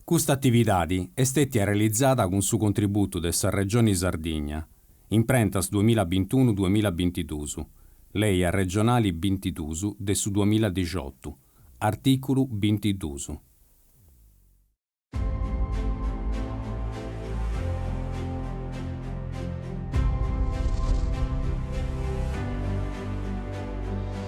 Custa atividadi est stètia realizada cun su contributu de sa Regioni Sardigna, imprentas duamilla bintunu-duamilla bintiduus, Lei Regionali bintiduus de su duamilla dixiotu, artìculu bintiduus.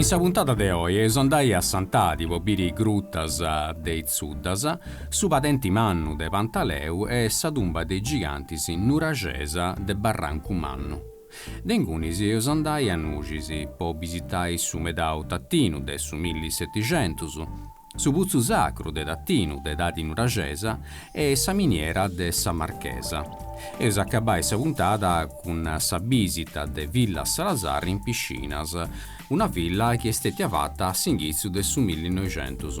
In sa puntada de oi eus andai a Santadi po biri is grutas de Is Zuddas, su padenti mannu de Pantaleu e sa tumba de is gigantis nuraxesa de Barrancu Mannu. De ingunis eus andai a Nuxis po bisitai su medau Tatinu de su milli e setixentus, su putzu sacru de Tatinu de edadi nuraxesa e sa miniera de sa Marchesa. Eus a acabai sa puntada cun sa bìsita de Villa Salazar in Piscinas, una villa chi est stètia fata a s'inghitzu de su millinoixentus.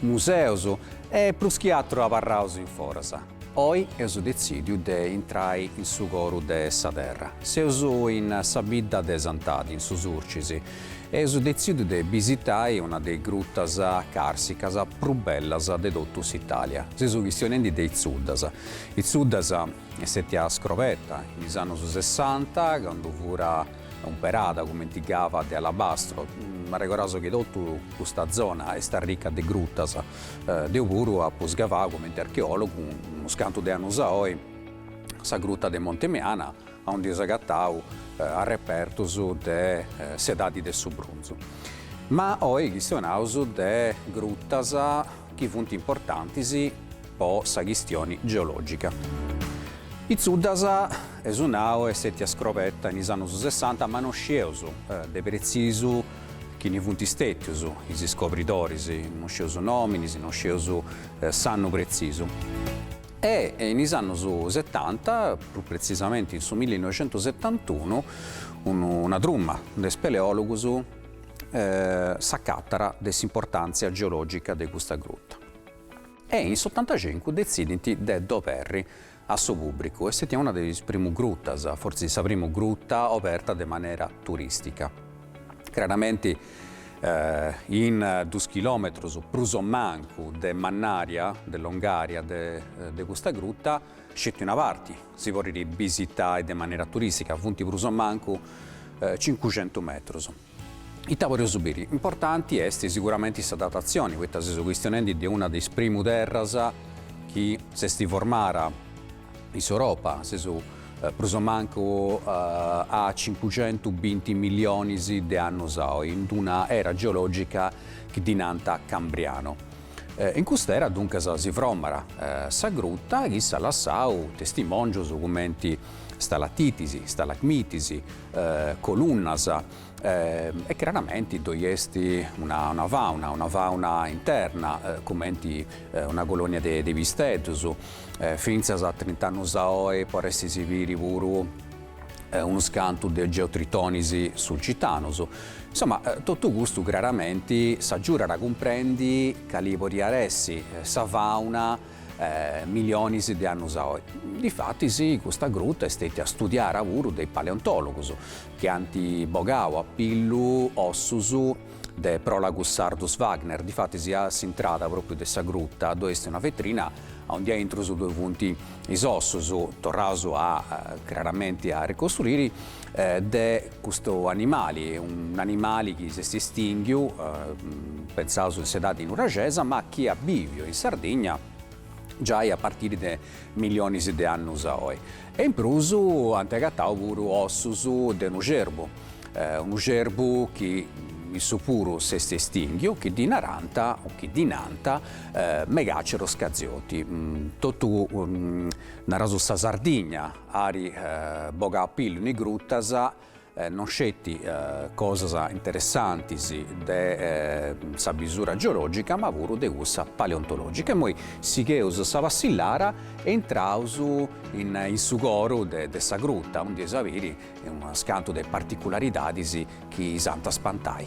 museus e prus chi aturu abarraus in foras. Oi eus detzìdiu de intrai in su coru de sa terra. Seus in sa bidda de Santadi, in su Surcis, e eus detzìdiu de bisitai una de is grutas càrsicas prus bellas de totu s'Itàlia. Seus chistionendi de Is Zuddas. Is Zuddas est stètia scrobeta in is annus sessanta, candu furat umperada cumenti cava de alabastru. Ma arregordaus chi totu custa zona est arrica de grutas. Deu puru apu sgavau cumenti archeòlogu, unus cantu de annus a oi, sa gruta de Monte Meana, aundi eus agatau arrepertus de s'edadi de su brunzu. Ma oi chistionaus de grutas chi funt importantis, po sa chistioni geològica. Is Zuddas, eus nau, est stètia scrobeta in is annus sessanta, ma no scieus de pretzisu chini funt stètius is iscobridoris, no scieus is nòminis, no scieus s'annu pretzisu. E in is annus setanta, prus pretzisamenti in su millinoixentusetantunu, una truma de speleòlogus s'acatat de s'importàntzia geològica de custa gruta. E in s'ottantacincu detzidint de dd'oberri a su pùbricu. Est stètia una de is primu grutas, fortzis sa primu gruta, oberta de manera turìstica. Craramenti in dus chilòmetrus prus o mancu de mannària, de longària, de custa gruta, sceti una parti si podit bisitai de manera turìstica, funt prus o mancu cincuxentu metrus. Ita podeus biri? Importanti est siguramenti sa datatzioni, poita seus chistionendi de una de is primu terras chi s'est formada in s'Europa, seus prus o mancu a cincucentu binti millionis de annus a oi, in d'una era geologica chi ddi nant Cambriano. In cust'era duncas si fromat sa gruta chi s'at lassau testimòngius cumenti stalatitis, stalagmitis, colunnas e craramenti ddoi est una fauna, una fauna interna cumenti una colonia de pisteddus, fintzas a trint'annus a oi podestis biri puru unus cantus de geotritonis sulcitanus. Insoma totu custu craramenti s'agiudat a cumprendi cali podiat essi sa fauna milionis de annus a oi. Difatis custa gruta est stètia studiara puru de is paleontòlogus, chi ant bogau a pillu ossus de Prolagus Sardus Wagner. Difatis a s'intrada pròpriu de sa gruta ddoi est una vetrina aundi aintrus ddoi funt is ossus, torraus craramenti a ricostruiri, de custu animali, un'animali chi s'est istìnghiu, pentzaus in s'edadi nuraxesa, ma chi at bìviu in Sardigna giai a partiri de millionis de annus a oi. E in prus ant agatau puru ossus de unu cerbu, unu cerbu chi issu puru s'est estìnghiu, chi ddi narant, o chi ddi nant, Megaceros cazioti, totu, naraus, sa Sardigna, Arribogat a pillu in is grutas, non sceti cosas interessantis de sa bisura geologica ma puru de cussa paleontologica. Imoi sigheus sa passillara e intraus in su coru de sa gruta, undi eus a biri unas cantu de particularidadis chi s'ant a spantai.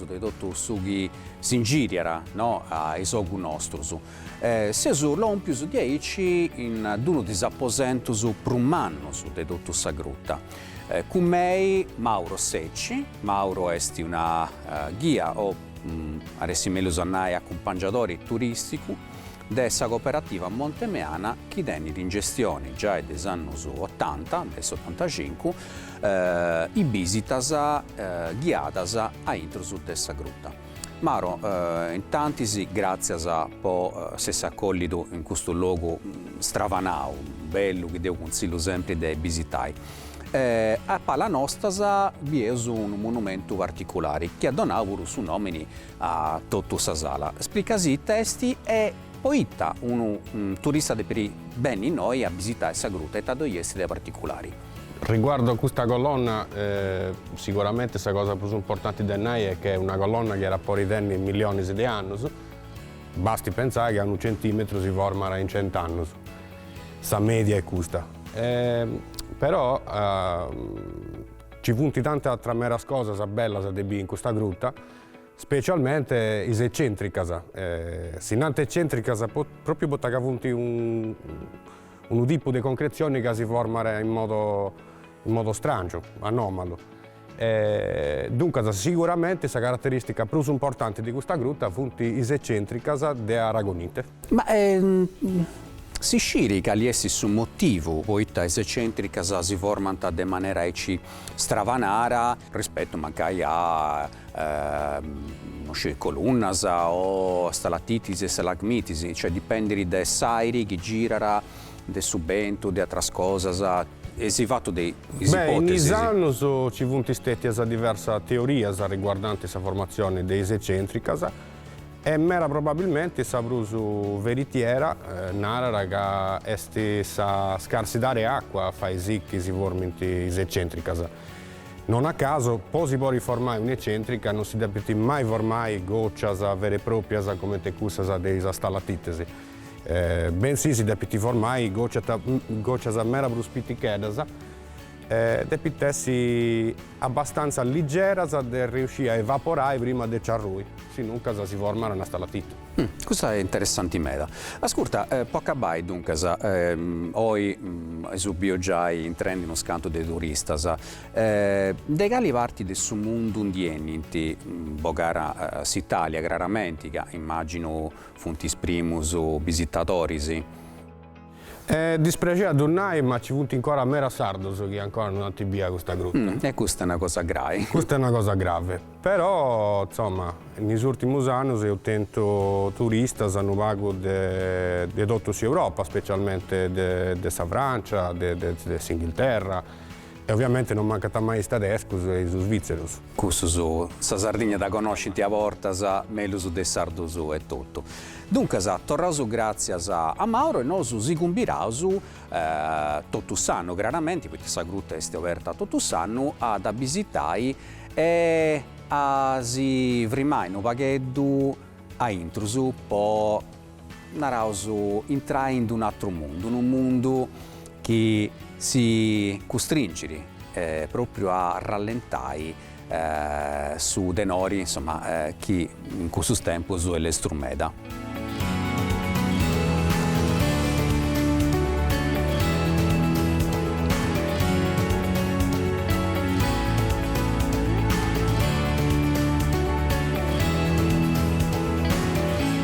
de totu su chi s'ingìriat ananti a is ogus nostros. E seus lòmpius diaici in d-unu de is aposentos prus mannos de totu sa gruta. Cun mei Mauro Secci, Mauro est una ghia o, arressit mellus a nai, acumpangiadori turìsticu, de sa cooperativa Monte Meana chi tenit in gestioni giai de is annus otanta, de s'otantacincu, is bisitas ghiadas aintrus de sa gruta. Mauro, intantis gratzias po s'essi acollidu in custu logu stravanau, bellu chi deu cunzillu sempri de bisitai. A pala nostas bieus unu monumentu particulari chi at donau puru su nomini a totu sa sala, splica·sì ita est e po ita unu turista depit benni innoi a bisitai sa gruta e ita ddoi est de particulari. Riguardu a custa colonna, siguramente sa cosa prus importanti de nai est che est una colonna chi iat a podi tenni millionis de annus, basti pentzai ca unu centimetru si format in cent'annus, sa media est custa. Però nci funt tanti atras meras cosas bellas de biri in custa gruta. Specialmente is ecentricas, si nant ecentricas propriu poita ca funt unu tipu de concretzioni ca si format in modo strangiu, anòmalu. Duncas siguramenti sa carateristica prus importanti de custa gruta funt is ecentricas de Aragonite. Ma si scit cali est su motivu poita is eccentricas si formant de manera aici stravanara, rispettu mancai a no sciri colunnas o stalattitis e stalagmitis, cioè dipendit de s'airi chi girat, de su bentu, de atras cosas, eis fatu de is ipotesis. Beh, in is annus ci funt stetias diversas teorias riguardanti sa formatzioni de is eccentricas, E meda probabilmenti sa prus veritiera narat ca est sa scarsidade 'e àcua a fai si chi si formint is ecèntricas. Non a caso, po si podi formai un'ecèntrica non si depint mai formai gòcias vera e pròpias comente cussas de is stalatìtias, bensì si depint formai gòcias meda prus piticheddas, depint essi. abbastanza ligeras de riusciri a evaporai prima de nci arrui, sinuncas si format una stalatitta. Custa est interessanti meda. Ascurta, po acabai, duncas, oi eus biu giai intrendi unus cantu de turistas, de cali parti de su mundu ndi 'enint? Bogara s'Italia craramenti, ca immàginu funt is primus bisitadoris. E dispraxit a ddu nai, ma ci funt ancora meras sardos chi ancora non ant bia custa gruta. E custa est una cosa grai. Custa est una cosa grave. Però, insoma, in is ùrtimus annus eus tentu turistas unu pagu de totu s'Europa, specialmente de sa Francia, de s'Inghilterra. E oviamente non mancant mai is tadescus e is svitzerus. Cussus sa Sardigna dda connoscint a bortas mellus de is sardus etotu. Duncas, torraus gràtzias a Mauro e nosu si cumbiraus totu s'annu, craramenti, poita sa gruta est oberta totu s'annu, a dda bisitai e a si frimai unu pagheddu a intrus po naraus, intrai in d'un'atru mundu, unu mundu chi si custringit pròpriu a rallentai su tenori, insoma, chi in cussus tempus est lestru meda.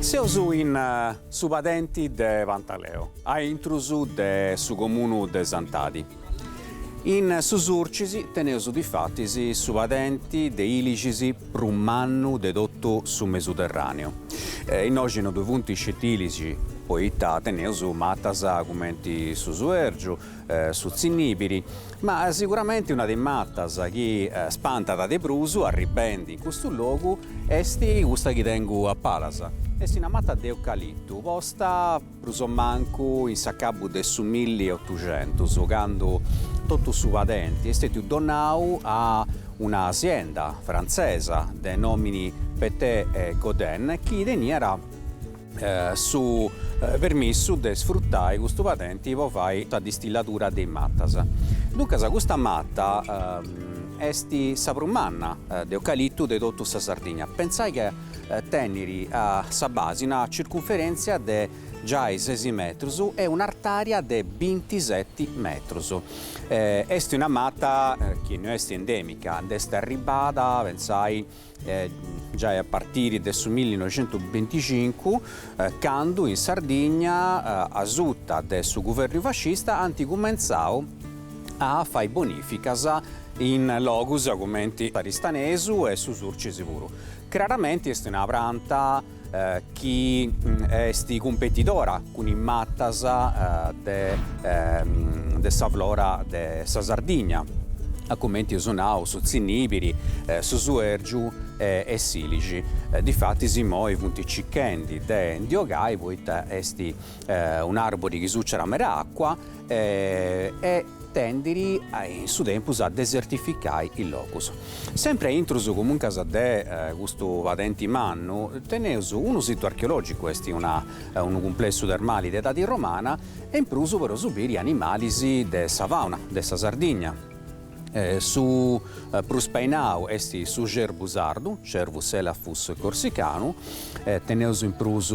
Seus in su padenti de Pantaleo, a intrus de su comunu de Santadi. In su Surcis teneus difatis su padenti de ilixis prus mannu de totu su Mesuterràneu. Innoxi no ddui funt sceti ilixi, poita teneus matas cumenti su Suèrgiu, su tzinnìbiri, ma siguramenti una de is matas chi spantat de prus arribendi in custu logu est custa chi tengu a palas, est una mata de eucalitu posta prus o mancu in s'acabbu de su milli e otuxentus candu totu su padenti est stètiu donau a una sienda frantzesa de nòmini Petin et Gaudet chi teniat su permissu de sfrutai custu padenti po fai sa distilladura de is matas. Duncas custa mata est sa prus manna de eucalitu de totu sa Sardigna, pentzai ca tenit a sa basi una circunferentzia de giai sesi metrus e un'artària de bintiseti metrus. Est una mata chi no est endèmica, nd'est arribada, pentzai, giai a partiri de su millinoixentubinticincu, candu in Sardigna, asuta de su guvernu fascista, ant cumentzau a fai bonificas in logus cumenti s'Aristanesu e su Surcisi puru. Craramenti est una pranta. chi est cumpetidora cun is matas de sa flora de sa Sardigna, a cumenti eus nau, su tzinnìbiri, su suèrgiu e s'ìlixi. Difatis imoi funt circhendi de ndi ogai poita est un'àrbori chi suciat meda acua e tendit in su tempus a desertificai is logus. Sempri aintrus comuncas de custu padenti mannu teneus unu situ archeològicu, est unu cumplessu termali de edadi romana e in prus podeus biri animalis de sa fauna de sa Sardigna. Su prus painau est su cerbu sardu, Cervus elaphus corsicanu, teneus in prus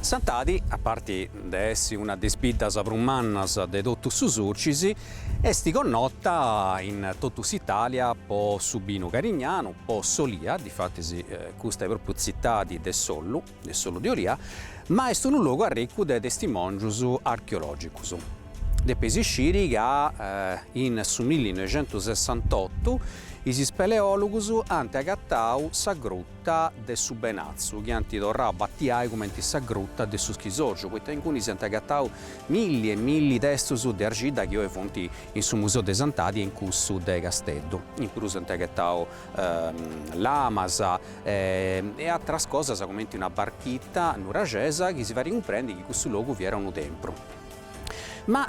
Santadi, a parti de essi una de is biddas prus mannas de totu su Surcis, est connota in totu s'Itàlia po su binu carignanu, po s'olia, difatis custa est pròpriu tzitadi de s'ollu, de s'ollu de olia, ma est unu logu arricu de testimòngius archeològicus. Depeis isciri ca in su millinoixentusessantotu is speleòlugus ant agatau sa Gruta de su Benatzu, chi ant torrau a batiai cumenti sa Gruta de su Schisòrgiu, poita incuni si ant agatau milli e milli testus de arxidda chi oi funt in su Museu de Santadi e in cussu de Casteddu. In prus ant agatau lamas e atras cosas cumenti una barchita nuraxesa chi si farit cumprendi chi cussu logu fiat unu tempru. Ma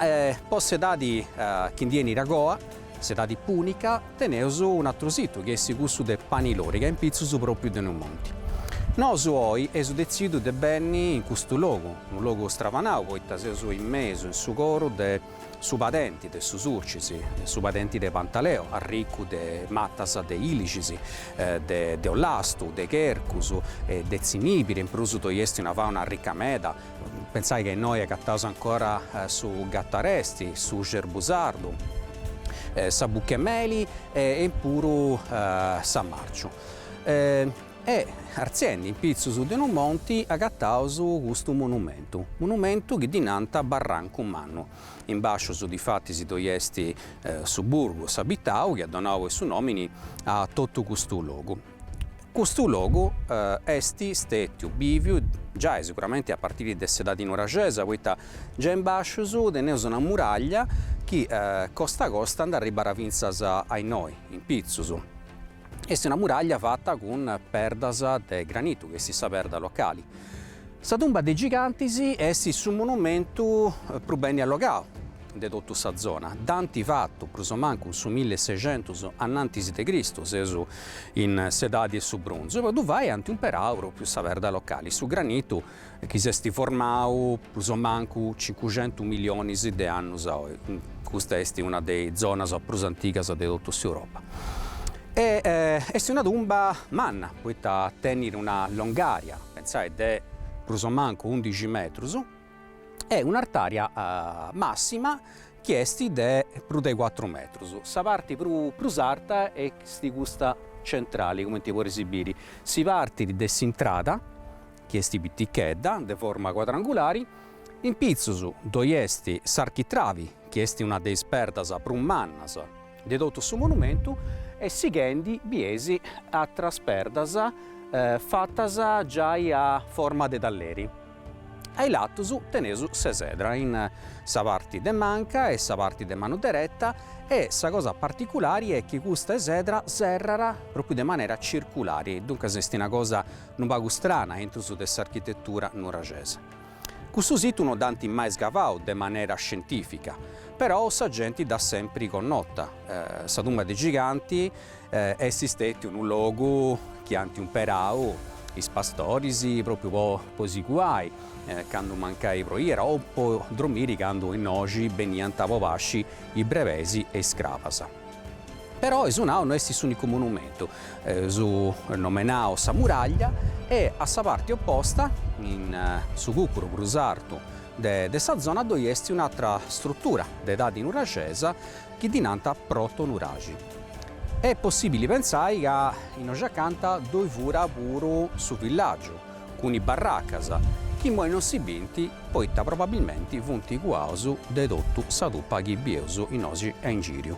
po s'edadi chi ndi 'enit agoa, s'edadi pùnica, teneus un'atru situ chi est cussu de Pani Loriga in pitzus pròpiu de unu monti. Nosu oi eus detzidu de benni in custu logu, unu logu stravanau poita seus in mesu, in su coru de su padenti de su Surcis, de su padenti de Pantaleo, arricu de matas de ilixis, de ollastu, de chercus e de tzinibiri, in prus ddoi esti una fauna arrica meda, Pensai ca innoi agataus ancora su gataresti, su xerbu sardu, sa buchemeli e in puru sa marciu. E artziendi in pitzus de unu monti agataus custu monumentu, monumentu chi ddi nant Barrancu Mannu. In bascius difatis ddoi est su burgu, s'abitau chi at donau su nomini a totu custu logu. Custu logu est stètiu bìviu giai seguramente a partiri de s'edadi nuraxesa poita giai in bàscius teneus una muraglia chi costa a costa ndi arribbat fintzas a innoi, in pitzus. Est una muraglia fata cun perdas de granitu, chi est sa perda locali. Sa tumba de gigantis est su monumentu prus beni allogau, de totu sa zona, dd'ant fatu prus o mancu su millesexentus annantis de Cristu, seus in s'edadi 'e su brunzu, po ddu fai ant umperau pròpiu sa perda locali, su granitu chi s'est formau prus o mancu cincuxentus millionis de annus, custa est una de is zonas prus antigas de totu s'Europa. E est una tumba manna, poita tenit una longària, pentzai, de prus o mancu undixi metrus, e un'artària màssima chi est de prus de cuatru metrus. Sa parti prus arta est custa centrali, cumenti podeis biri. Si partit de s'intrada, chi est pitichedda, de forma cuadrangulari, in pitzus ddoi est s'architravi, chi est una de is perdas prus mannas de totu su monumentu, e sighendi bieis atras perdas fatas giai a forma de talleri. A is latus teneus s'esedra, in sa parti de manca e sa parti de manu dereta e sa cosa particulari est chi custa esedra serrat propriu de manera circulari, duncas est una cosa unu pagu strana intrus de s'architetura nuraxesa. Cussu situ no dd'ant mai scavau de manera scientifica, perou sa genti dd'at sempri connota, sa tumba de giganti, Est stètiu unu logu chi ant umperau is pastoris pròpriu po si cuai candu mancai proiat o po dromiri candu innoxi beniant po pasci is brebeis e is crabas. Però Is Concas no est s'ùnicu monumentu, su nomenau Sa Muraglia e a sa parti oposta, in su cùcuru prus artu de sa zona ddoi est un'atra strutura de edadi nuraxesa, chi ddi nant protonuraxi. Est possìbili pentzai ca innoxacanta ddoi fura puru su villàgiu, cun is barracas, chi immoi non si bint poita probabilmenti funt cuaus de totu sa tupa chi bieus innoxi a ingìriu.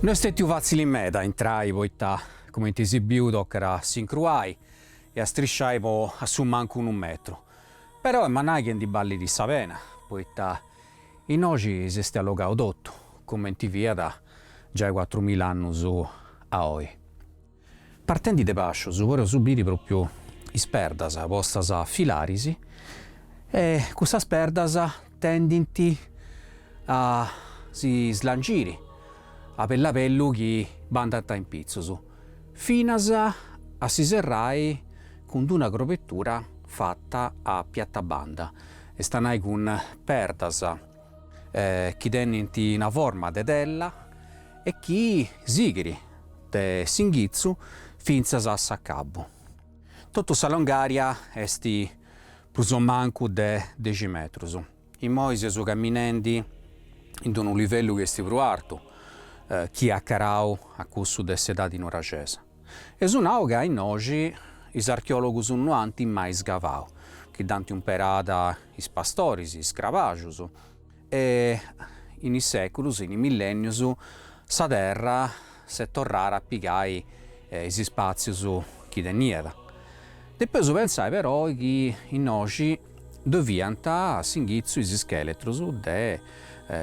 No est stetiu fàtzili meda a intrai poita, cumenti si biu, tocat a s'incruai e a strisciai po a su mancu unu metru. Però est a nai chi ndi ballit sa pena, poita innoxi s'est allogau totu, cumenti fiat giai cuatrumilla annus a oi. Partendi de bàsciu podeus biri pròpiu is perdas postas a filaris e cussas perdas tendint a si stringiri a bellu a bellu chi bandant a impitzus, finas a si serrai cun d'una crobetura fata a piatabanda, est a nai cun perdas chi tenint una forma de tella e chi sighit de s'inghitzu fintzas a s'acabu. Totu sa longària est prus o mancu de dexi metrus. Immoi seus caminendi in d-unu livellu chi est prus artu chi acarau a cussu de s'edadi nuraxesa. E su nau ca innoxi is archeòlogus no ant mai scavau, chi dd'ant umperada is pastoris, is crabaxus, e in is sèculus, in is millènnius, sa terra s'est torrada a pigai is ispàtzius chi teniat. Depeus pentzai però chi innoxi. ddoe fiant s'inghitzu is ischèletrus de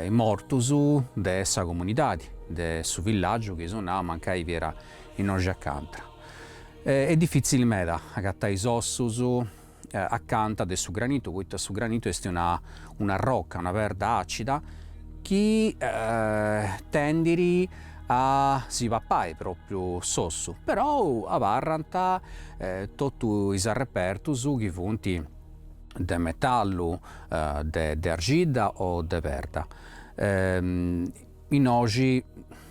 is mortus de sa comunidadi, de su villàgiu chi si nau mancai fiat innoxi acanta. Est difìtzili meda agatai is ossus acanta de su granitu poita su granitu est una una roca, una perda àcida chi tendit a si papai propriu s'ossu, però abarrant totu is arrepertus chi funt de metallu, de arxidda o de perda. Innoxi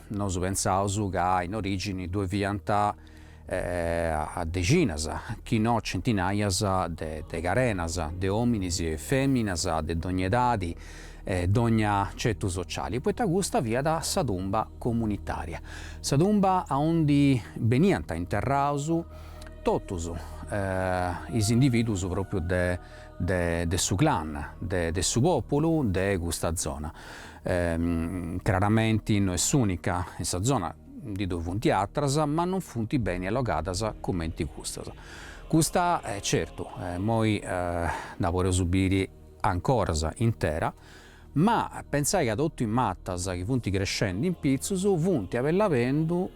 nosu pensaus ca in origini ddue fiant a dexinas, chi no centinaias, de carenas, de ominis e feminas de dogna edadi e dogna cetu sociali, poita custa fiat sa tumba comunitaria, sa tumba aundi beniant interraus totus is individus propriu de su clan, de su populu de custa zona, craramenti no est s'unica in sa zona, Ndi ddu funt atras, ma non funt beni allogadas cumenti custas. Custa, certu, immoi dda podeus biri ancoras intera, ma pensai ca totu is matas chi funt crescendi in pitzus funt abellu abellu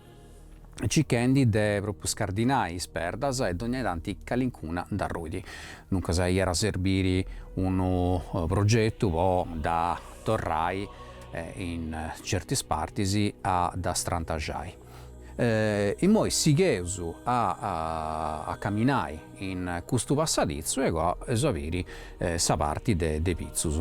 circhendi de propriu scardinai is perdas e dogna tanti calincuna nd'arruit. Duncas iat a serbiri unu progetu po dda torrai e in certis partis a dda strantaxai. Immoi sigheus a a caminai in custu passaditzu e agoa eus a biri sa parti de de pitzus.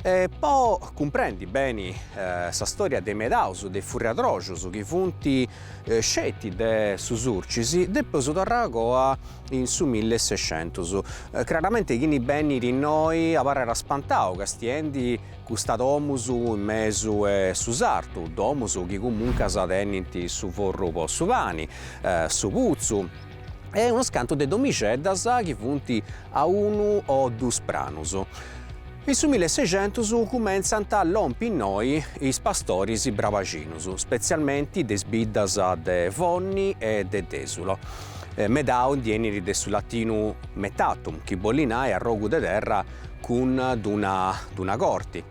E po cumprendi beni sa storia de is medaus de is furriadroxus chi funt sceti de su Surcis depeus torrai a goa in su milli e sescentus. Craramenti chini benit innoi abarrat spantau castiendi custa domus in mesu 'e su sartu, domus chi comuncas tenint su forru po su pani, su putzu, e unus cantu de domixeddas chi funt a unu o dus pranus. In su milli e sescentus cumentzant a lompi innoi is pastoris brabaxinus, spetzialmenti de is biddas de Fonni e de Dèsulu, medau ndi 'enit de su latinu metatum, chi bollit nai arrogu de terra cun d'una corti.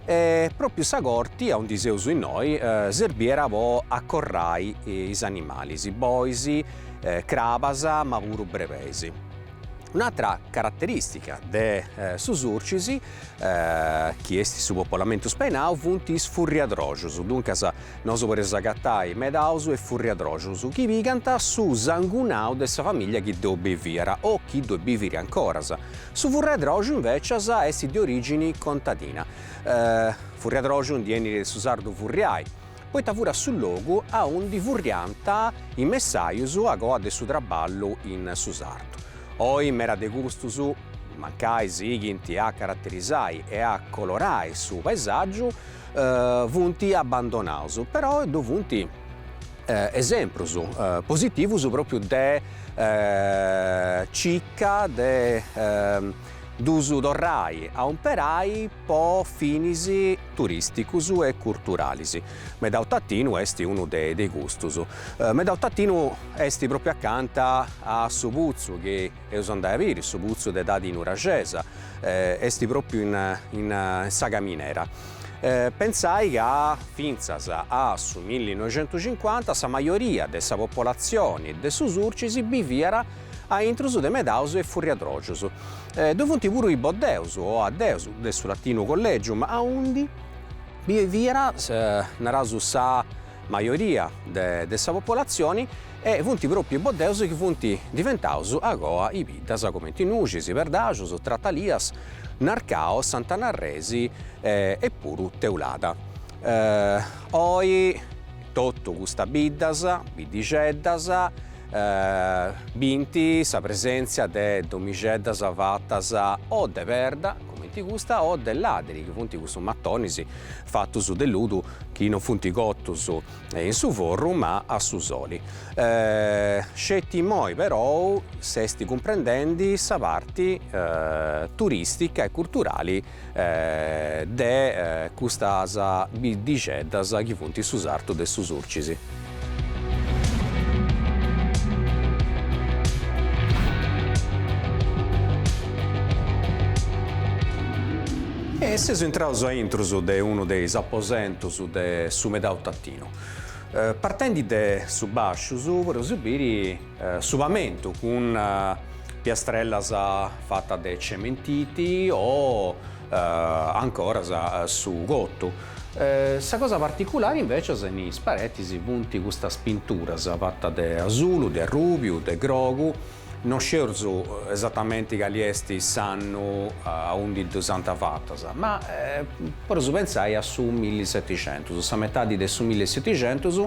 E pròpiu sa corti aundi seus innoi serbiera po acorrai is animalis, bois, crabas ma puru brebeis. Un'atra caraterìstica de su Surcis chi est su popolamentu spainau funt is furriadrojus, duncas nosu podeus agatai medaus e furriadrojus chi pigant su sangunau de sa famìllia chi ddoi biviat o chi ddoi bivit ancoras, Su furriadròxiu invècias est de orìgini contadina, furriadròxiu ndi 'enit de su sardu furriai, poita furat su logu aundi furriant is messajus agoa de su traballu in su sartu. Oi meda de custus, mancai sighint a caraterisai e a colorai su paesàgiu, funt abbandonaus, però ddu funt esemprus positivus propriu de circa de dus torrai a umperai po finis turisticus e curturalis. Medau Tatinu est unu de custus. Medau Tatinu est propriu accanta a su putzu chi eus a andai a biri su putzu de edadi nuraxesa, est pròpiu in sa caminera. Pentzai ca fintzas a su millinoixentucincuanta sa majoria de sa popolatzioni de su Surcis biviat a intrus de medaus e furriadrògius. Ddu funt puru is boddeus o addeus, de su latinu collegium, aundi biviat, naraus, sa majoria de sa popolatzioni e funt pròpiu is boddeus chi funt diventaus agoa is biddas cumenti Nuxis, Perdaxus, Tratalias, Narcau, Sant'Anna Arresi e puru Teulada. Oi totu custas biddas, biddixeddas, bint sa presèntzia de domixeddas fatas o de perda, cumenti custa, o de làdiri, chi funt custus matonis fatus de ludu chi non funt cotus in su forru ma a su soli. Sceti immoi però s'est cumprendendi sa parti turistica e curturali de custas biddixeddas chi funt in su sartu de su Surcis. E seus intraus a intrus de unu de is aposentus de su Medau Tatinu. Partendi de su bàsciu podeus biri su pamentu cun piastrellas fatas de cementiti o ancoras su cotu. Sa cosa particulari invecias in is paretis funt custas pinturas fatas de asulu, de arrùbiu, de grogu, no scieus esatamenti cali est s'annu aundi ddus ant fatas, ma poreus pentzai a su milliseticentus, sa metadi de su milleseticentus,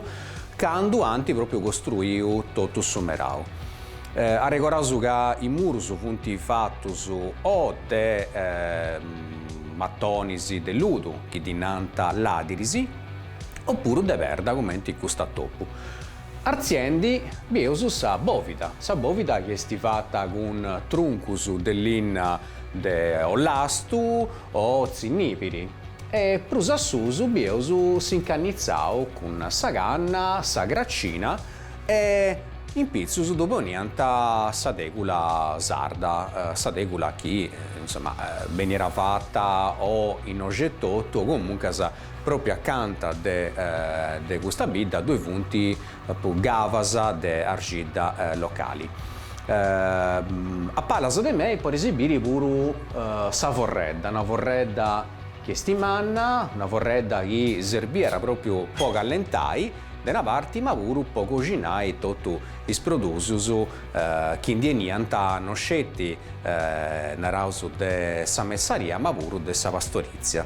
candu ant pròpriu costruiu totu su merau. Arregoraus ca is murus funt fatus o de matonis de ludu chi ddi nant ladiris opuru de perda cumenti custa. Dopu artziendi bieus sa bòvida, sa bòvida chi est fata cun truncus de linna de ollastu o tzinnìpiri e prus a susu bieus s'incannitzau cun sa canna, sa cracina e in pitzus ddu poniant sa tègula sarda, sa tègula chi insoma benniat fata o innoxi etotu o comuncas pròpriu acanta de custa bidda ddoi funt puru cavas de arxidda locali. A palas de mei podeis biri puru sa forredda, una forredda chi est manna, una forredda chi serbiat pròpriu po callentai de una parti ma puru po coxinai totu is produsus chi ndi 'eniant no sceti, naraus, de sa messaria ma puru de sa pastorizia.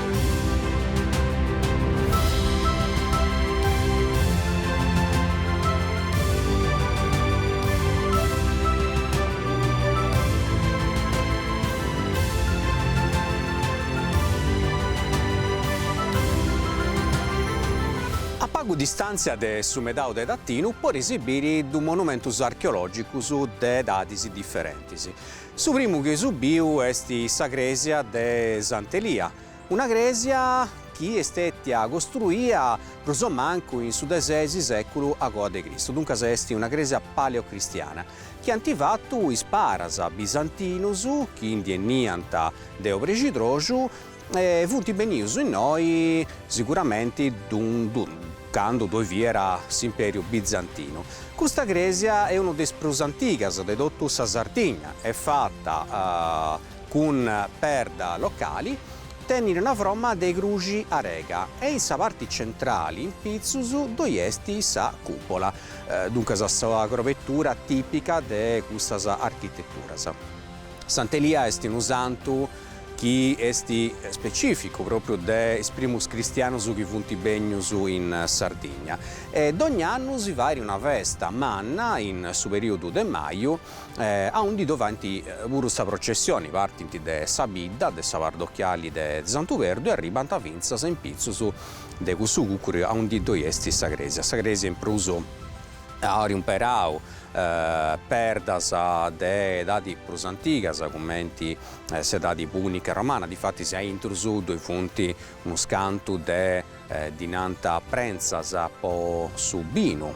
A pagu distàntzia de su Medau de Tatinu poreis biri dus monumentus archeològicus de edadis diferentis. Su primu chi eus biu est sa crèsia de Sant'Elia, una crèsia chi est stètia costruia prus o mancu in su de ses sèculu a coa de Cristu, duncas est una crèsia paleocristiana, chi ant fatu is paras bisantinus chi ndi 'eniant de obrexidroxu E funt benius innoi siguramenti candu ddoi fiat s'Imperiu Bizantinu. Custa crèsia est una de is prus antigas de totu sa Sardigna est fata cun perda locali, tenit una froma de cruxi arega e in sa parti centrali in pitzus ddoi est sa cùpola, duncas sa crovetura tìpica de custas architeturas. Sant'Elia est unu santu chi est specificu propriu de is primus cristianus chi funt bènnius in Sardigna e dogna annu si fait una festa manna in su perìodu de maju aundi ddu faint puru sa processioni, partint de sa bidda de sa pardochiali de Santu Perdu e arribant fintzas in pitzus de cussu cucuri aundi ddoi est sa crèsia, sa crèsia in prus ant imperau perdas de edadi prus antigas cumenti s'edadi pùnica romana, difatis a intrus ddoi funt unus cantu de, ddi nant, prentzas po su binu,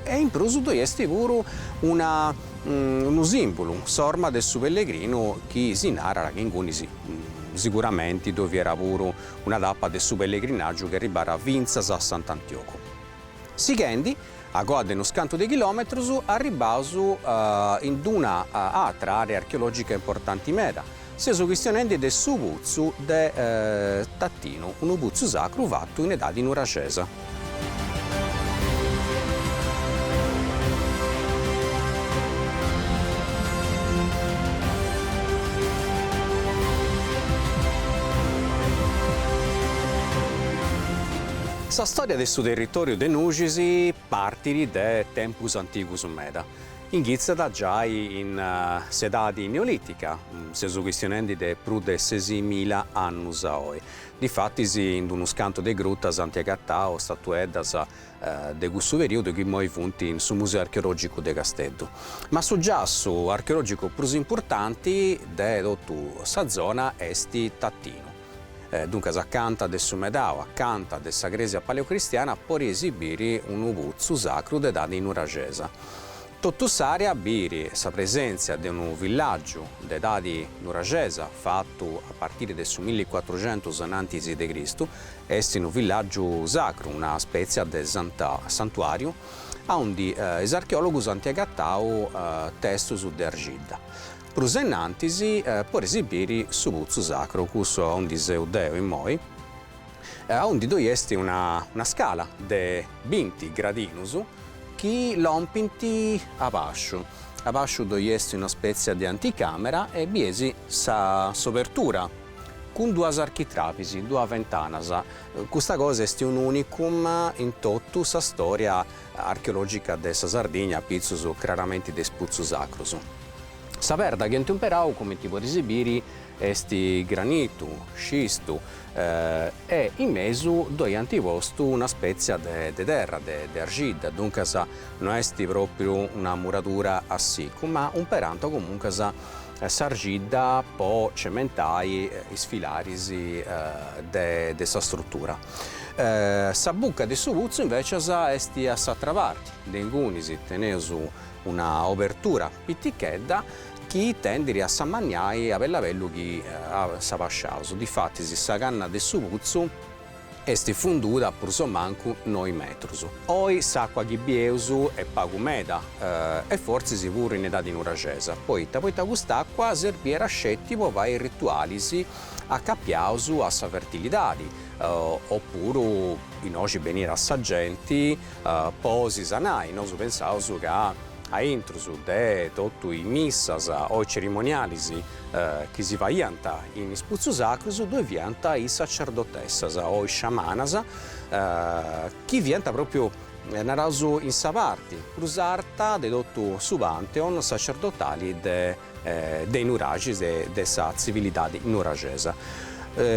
e in prus ddoi est puru una, unu sìmbulu, s'orma de su pellegrinu chi si narat chi inguni si, siguramenti ddoi fiat puru una tapa de su pellegrinàgiu chi arribàt fintzas a Sant'Antiogu. Sighendi. A coa de unus cantu de chilòmetrus arribbaus in d-una atra àrea archeològica importanti meda, seus chistionendi de su putzu de Tatinu, unu putzu sacru fatu in edadi nuraxesa. Sa stòria de su territòriu de Nuxis partit de tempus antigus meda, inghitzat giai in s'edadi neolìtica, seus chistionendi de prus de sesimila annus a oi. Difatis in unus cantu de grutas ant agatau statueddas de cussu perìodu chi imoi funt in su Museu Archeològicu de Casteddu. Ma su giassu archeològicu prus importanti de totu sa zona est Tatinu. Duncas acanta de su medau, acanta de sa crèsia paleocristiana podeis biri unu putzu sacru de edadi nuraxesa. Totu s'àrea bit sa presèntzia de unu villàgiu de edadi nuraxesa fatu a partiri de su milli cuatruxentus anantis de Cristu, est unu villàgiu sacru, una spètzia de santuàriu, aundi is archeòlogus ant agatau testus de arxidda. Prus ainnantis podeis biri su putzu sacru, cussu aundi seu deo immoi, aundi ddoi est una scala de binti gradinus chi lompint abasciu, abasciu ddoi est una spetzia de anticamera e bieis sa s'obertura cun duas architravis, duas ventanas, custa cosa est un unicum in totu sa storia archeologica de sa Sardigna apitzus craramenti de is putzus sacrus. Sa perda chi ant umperau, cumenti podis biri, est granitu, scistu, e in mesu ddoi ant postu una spètzia de terra, de arxidda, duncas no est pròpriu una muradura a sicu, ma umperant comuncas s'arxidda po cementai is filaris de sa strutura. Sa buca de su putzu invècias est a s'atra parti, de ingunis teneus Una obertura pitichedda chi tendit a s'ammaniai a bellu a bellu chi s'abasciaus, difatis sa canna de su putzu est funduda prus o mancu noi metrus. Oi s'acqua chi bieus est pagu meda e fortzis puru in edadi nuraxesa, poita poita cust'acqua serbiat sceti po fai ritualis acapiaus a sa fertilidadi o puru innoxi beniat sa genti Po si sanai, nosu pensaus ca a intrus de totu is missas o is cerimonialis chi si faiant in is putzus sacrus ddue fiant is sacerdotessas o is sciamanas chi fiant propriu, naraus, in sa parti prus arta de totu su pantheon sacerdotali de de i nuraxis e de sa tzivilidadi nuraxesa.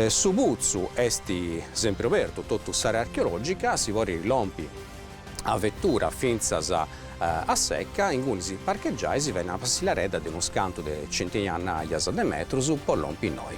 Su putzu esti sempri obertu, totu s'area archeologica si podit lompi a vettura fintzas a secca, inguni si parcheggiat e si fait una passilaredda de unus cantu de centinajas de metrus po lompi innoi.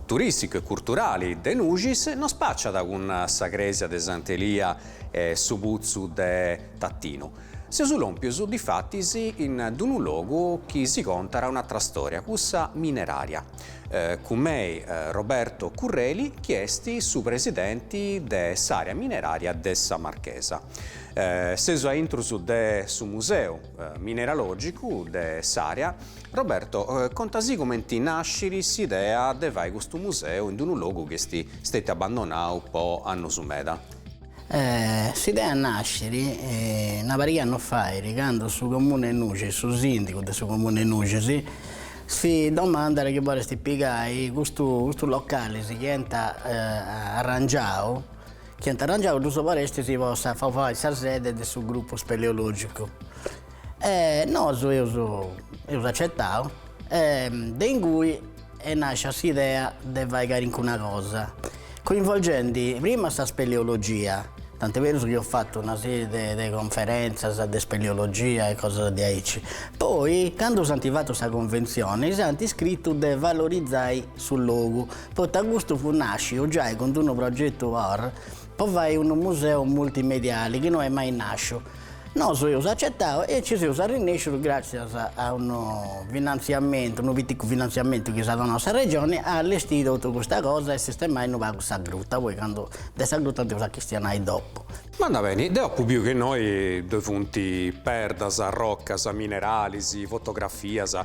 turìsticu e curturali de Nuxis no spàciat cun sa crèsia de Sant'Elia e su putzu de Tatinu. Seus lòmpius difatis in d-unu logu chi si contat un'atra stòria, cussa minerària, cun mei Roberto Curreli chi est su presidenti de s'àrea minerària de sa Marchesa. Seus a intrus de su museu mineralògicu de s'àrea Roberto, conta si comenti nascit s'idea de fai custu museu in d'unu logu chi est stetiu abbandonau po annus meda? S'idea nascit una pariga annus fait candu su comunu 'e Nuxis, su sindigu de su comunu 'e Nuxis si domandat chi boleus pigai custu custu localis chi ant arrangiau chi ant arrangiau ddus boleis po sa po fai sa sede de su gruppu speleologicu E nosu eus eus acetau e de ingui est nàscia s'idea de fai calincuna cosa, coinvolgendi prima sa speleologia, tant'est berus chi eus fatu una sèrie de de conferèntzias de speleologia e cosas diaici, poi candu s'ant fatu sa conventzioni s'ant iscritu de valorizai su logu, poita custu fut nàsciu giai cun d'unu progetu por po fai unu museu multimediali chi no est mai nàsciu. Nosu eus acetau e nci seus arrinèscius gràtzias a unu finantziamentu, unu piticu finantziamentu chi s'at donau sa Regioni, a allestiri totu custa cosa e sistemai unu pagu sa gruta, poi candu de sa gruta dd'eus a chistionai dopu. Bandat beni, deu apu biu chi innoi ddoi funt perdas, rocas, mineralis, fotografias,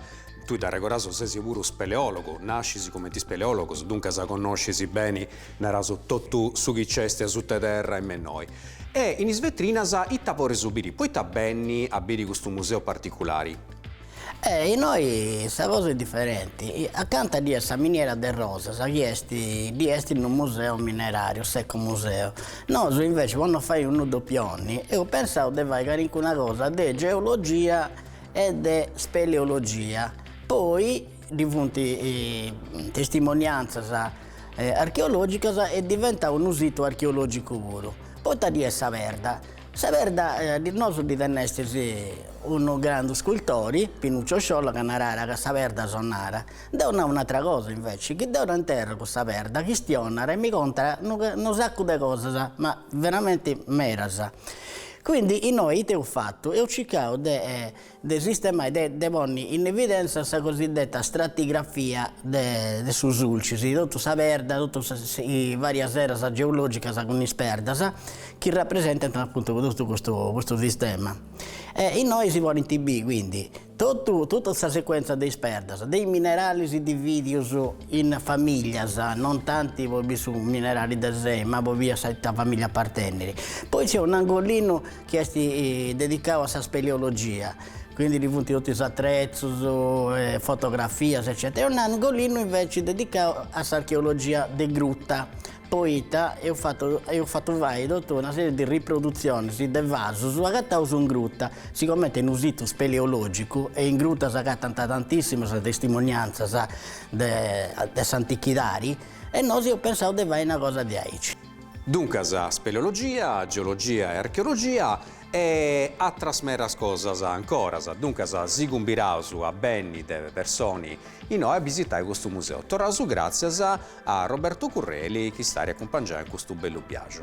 tui, dd'arregodaus, sesi puru speleòlogu, nascis cumenti speleòlogu, duncas connoscis beni Naras, totu su chi nc'est asuta 'e terra est innoi. E in is vetrinas ita podeus biri, poita benni a biri custu museu particulari? E innoi sa cosa est diferenti, acanta ddoi est sa miniera de Rosas chi est ddoi est unu museu minerariu, s'ecomuseu. Nosu inveci po no fai unu dopioni eus pensau de fai calincuna cosa de geologia e de speleologia, poi. Ddoi funt testimoniantzas archeològicas e diventat unu situ archeològicu puru. Poita ddoi est sa perda? Sa perda, nosu ddu tennestis unu grandu scultori, Pinuccio Sciola, ca naràt ca sa perda sonara. Deu nau un'atra cosa inveci, chi deu dd'intèrrogu sa perda, chistionara e mi contat unu unu sacu de cosas, ma veramenti meras. Quindi innoi ite eus fatu, eus circau de de sistemai de de ponni in evidenza sa cosiddetta stratigrafia de de su Sulcis, totu sa perda, totu is varias eras geologicas cun is perdas chi rapresentant apuntu totu custu custu sistema. E innoi si podint bì quindi totu totu sa sequenza de is perdas de is mineralis dividius in familias, non tanti po bì su minerali de sei ma po bì a ita familia apartenniri. Poi nc'est un'angolinu chi est dedicau a sa speleologia, quindi ddoi funt totu is atrezus, fotografias eccetera, e un'angolinu inveci dedicau a s'archeologia de gruta, poita eus fatu eus fatu fai totu una seri de riprodutzionis de vasus agataus in gruta, sigomente est unu situ speleologicu e in gruta s'agatant tantissimas testimonianzas de s'antichidadi e nosu eus pensau de fai una cosa diaici. Duncas, speleologia, geologia e archeologia e atras meras cosas ancoras. Duncas, si cumbiraus a benni de personi inoi a bisitai custu museu. Torraus gràtzias a Roberto Curreli chi s'at a acumpangiai in custu bellu biaju.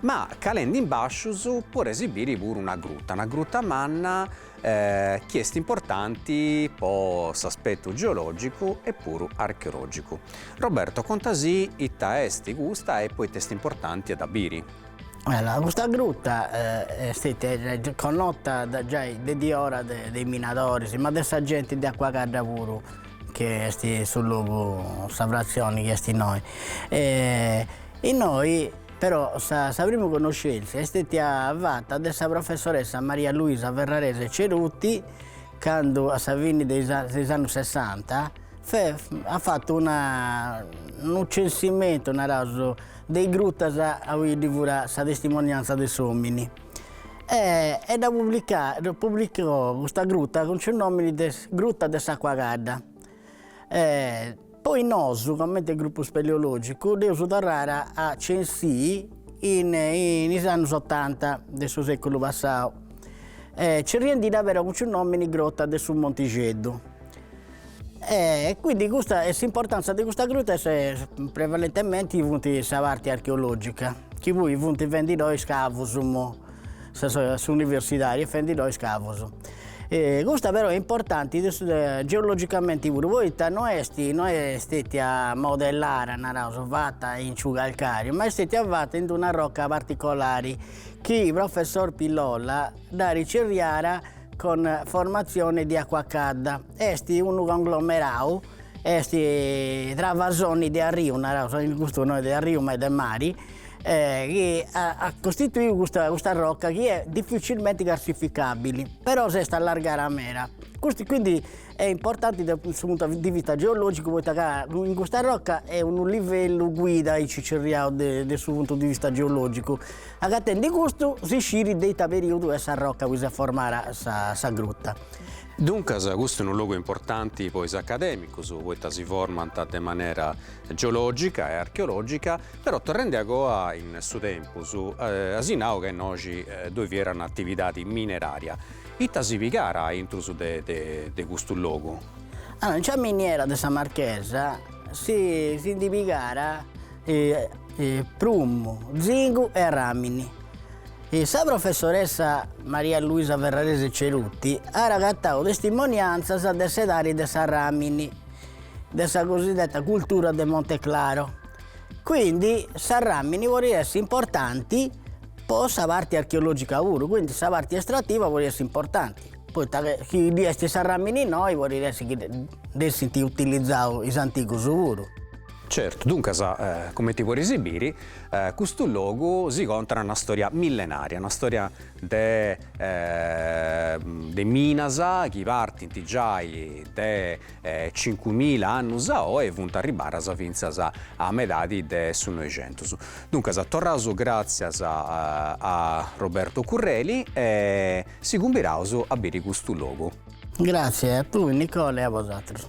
ma calendi in bascius podeus biri puru una gruta, una gruta manna chi est importanti po s'aspetu geologicu e puru archeologicu. Roberto contasì ita est custa e poita est importanti a dda biri. Allora, custa gruta est stetia connota de giai de diora de is minadoris, ma de sa genti de Acuacadda puru, chi est su logu, sa fratzioni chi est innoi. Innoi Però sa sa primu connoscèntzia est stètia fata de sa professoressa Maria Luisa Ferrarese Ceruti candu a sa fini de is de is annus sessanta fait at fatu una unu censimentu naraus de is grutas a ui ddoi furat sa testimonianza de s'omini e e dda publicai dda publicò custa gruta cun su nomini de gruta de s'Acuacadda e Poi nosu, comente grupu speleologicu, dd'eus torrada a censii in is annus otanta de su seculu passau, cerriendidda però cun su nomini Grotta de su Montixeddu. E quindi custa est s'importanza de custa gruta est prevalentementi funt sa parti archeologica, chi poi funt fendidoi scavus S'universidadi est fendidoi scavus. Custa però est importanti geologicamente puru poita no est no est stètia modellara, naraus, fata in su calcàriu, ma est stètia fata in d'una roca particolari chi professor Pillolla dd'at cerriada con formazione di acqua cadda. Est unu conglomerau, est travasoni de arriu, naraus, in custu no est de arriu ma est de mari, chi at costituiu custa custa rocca chi è difficilmente carsificabili, però s'est allargada meda, custu quindi è importante da su puntu di vista geologicu poita ca in custa rocca est unu livellu guida aici cerriau de de su puntu di vista geologicu, agatendi custu si sciri de ita periodu est sa rocca aui s'est formada sa sa gruta. Duncas custu è unu logu importanti po is academicus poita si formant de manera geologica e archeologica Però torrende a goa in su tempus, asi nau ca innoxi ddoi fiat un'atividadi minerària, ita si pigàt a intrus de custu logu? In sa miniera de Sa Marchesa si ndi pigàt prumu, zingu e arràmini. Sa professoressa Maria Luisa Ferrarese Ceruti at agatau testimoniantzas de s'edadi de s'arràmini de sa cosideta cultura de Monte Claro, Quindi sa ràmini podit essi importanti po sa parti archeològica puru, quindi sa parti estrativa podit essi importanti, poita che chi ddoi est sa ràmini innoi podit essi chi dd'essint utilizau is antigus puru. Certu, duncas, cumenti podis biri, custu logu si contat una stòria millenaria, una stòria de de minas chi partint giai de cincumila annus a oe funt arribbadas fintzas a medadi de su Noixentus. Duncas, torraus gràtzias a Roberto Curreli e si cumbiraus a biri custu logu. Gràtzias a tui Nicola e a bosatrus.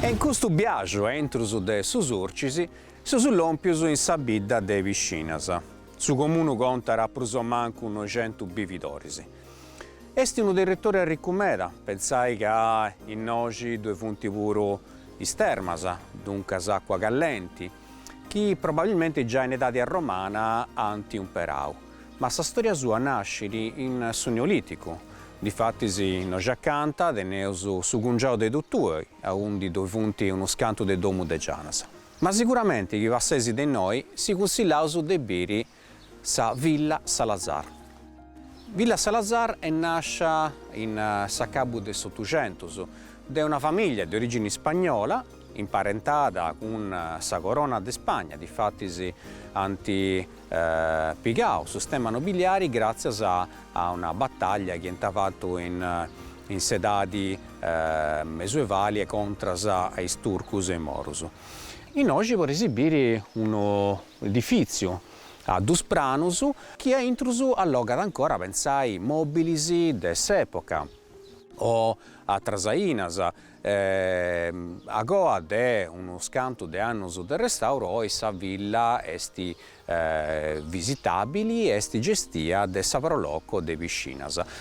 E in custu biaxu a intrus de su Surcis seus lòmpius in sa bidda de Piscinas. Su comunu contat prus o mancu noixentus bividoris. Est unu territòriu arricu meda, pensai ca innoxi ddue funt puru is termas, duncas àcua callenti, chi probabilmente già in edadi romana ant umperau, ma sa stòria sua nascit in su Neolìticu, difatis innoxi acanta, teneus su cungiau de Tutui, aundi ddoi funt unus cantu de domu de gianas. Ma siguramenti chi passeis de innoi si cunsillaus de biri Sa Villa Salazar. Villa Salazar est nàscia in s'acabbu de s'Otucentus de una famìllia de orìgini ispagnola, imparentada cun sa Corona de Spagna, difatis ant pigau su stemma nobiliari gràtzias a una batàllia chi ant fatu in s'edadi mesuevali e contras a is turcus e is morus. Innoxi podis biri unu Edifìtziu a dus pranus chi a intrus allogat ancora, pensai, mòbilis de s'època o atras ainas. A coa de unus cantu de annus de restauru oi sa villa est visitàbili e est gestia de sa Pro Loco de Piscinas.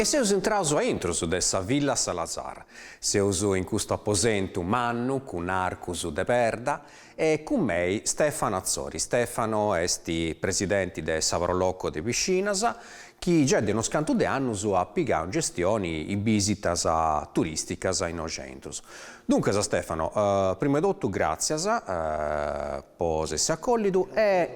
E seus intraus a intrus de sa Villa Salazar. Seus in custu aposentu mannu cun arcus de perda e cun mei Stefano Atzori, Stefano est presidenti de sa Pro Loco de Piscinas, chi giai de unos cantu de annus at pigau in gestioni is bisitas turisticas innoxi a intrus. Duncas Stefano, prima 'e totu gràtzias po s'essi acòllidu e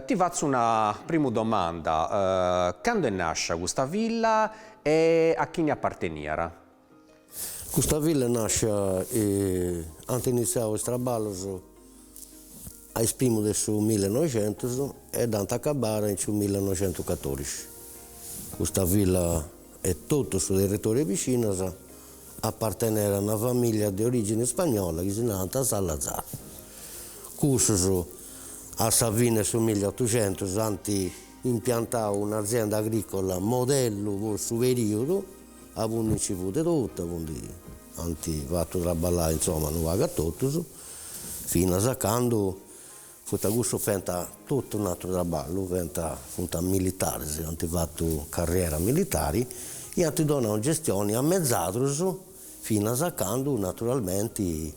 ti fatzu una primu domanda, cando est nàscia custa villa e a chini aparteniat? Custa villa nascit, ant initziau is traballos a is primus de su millenoixentus e dd'ant acabbada in su millenoixentucatòrixi. Custa villa e totu su territori 'e Piscinas apartenent a una famìllia de orìgine ispagnola chi si nant Salazar. Cussus a sa fine 'e su milleutuxentus ant impiantadu un'azienda agrìcola modellu po su perìodu Aundi nci fut de totu, aundi ant fatu traballai insoma unu pagu a totus, finas a candu poita cussus fenta totu un'aturu traballu, fenta funt militaris, ant fatu carriera militari e ant donau gestioni a mezadrus finas a candu naturalmenti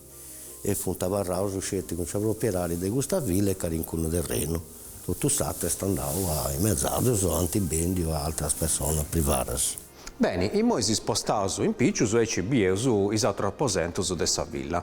e funt abarraus sceti cun sa propiedadi de custa villa e calincunu terrenu, totu s'atru est andau a is mezadrus o ant bendiu a altras personas privadas. Beni, imoi si spostaus in pitzus e aici bieus is atrus aposentus de sa villa.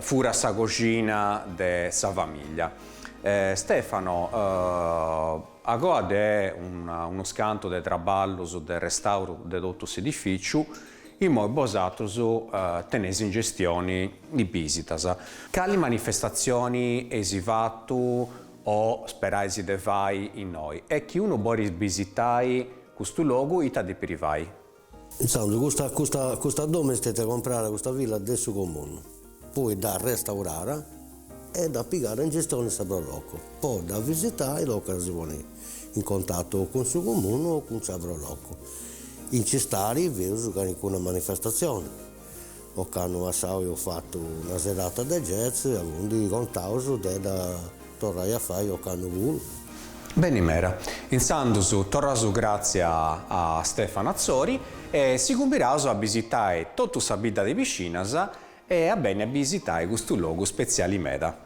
Furat sa coxina de sa famiglia. Stefano, agoa de unus cantu de traballus de restauru de totu s'edifìciu, imoi bosatrus teneis in gestioni is bìsitas. Cali manifestatzioni eis fatu o sperais de fai innoi e chi unu bolit bisitai custu logu ita depit fai? Intzandus custa custa custa domu est istètia comprara custa villa de su comunu, poi dd'at restaurara e dd'at pigara in gestione sa pro loco, po dda visitai tocat a si ponni in contatu o cun su comunu o cun sa pro loco, in s'istari feus calincuna manifestazione. ocannu passau eus fatu una serata de jazz aundi contaus de dda torrai a fai ocannu puru. Beni mera. Insandus torraus gratzia a Stefano Atzori e si cumbiraus a bisitai totu sa bidda de Piscinas e a benni a bisitai custu logu spetziali meda.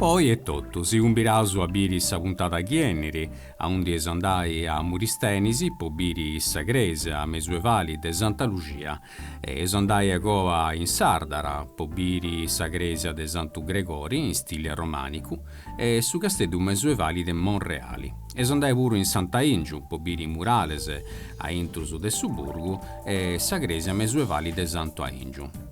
Poi etotu si cumbiraus a biri sa puntada chi 'enniri, aundi eus andai a Muristenisi po biri sa cresia mesuevali de Santa Luxia. E eus andai agoa in Sardara po biri sa cresia de Santu Gregori in stile romanicu e su casteddu mesuevali de Monreali. Eus andai puru in Sant'Aingiu po biri is murales aintrus de su burgu e sa cresia mesuevali de Santu Aingiu.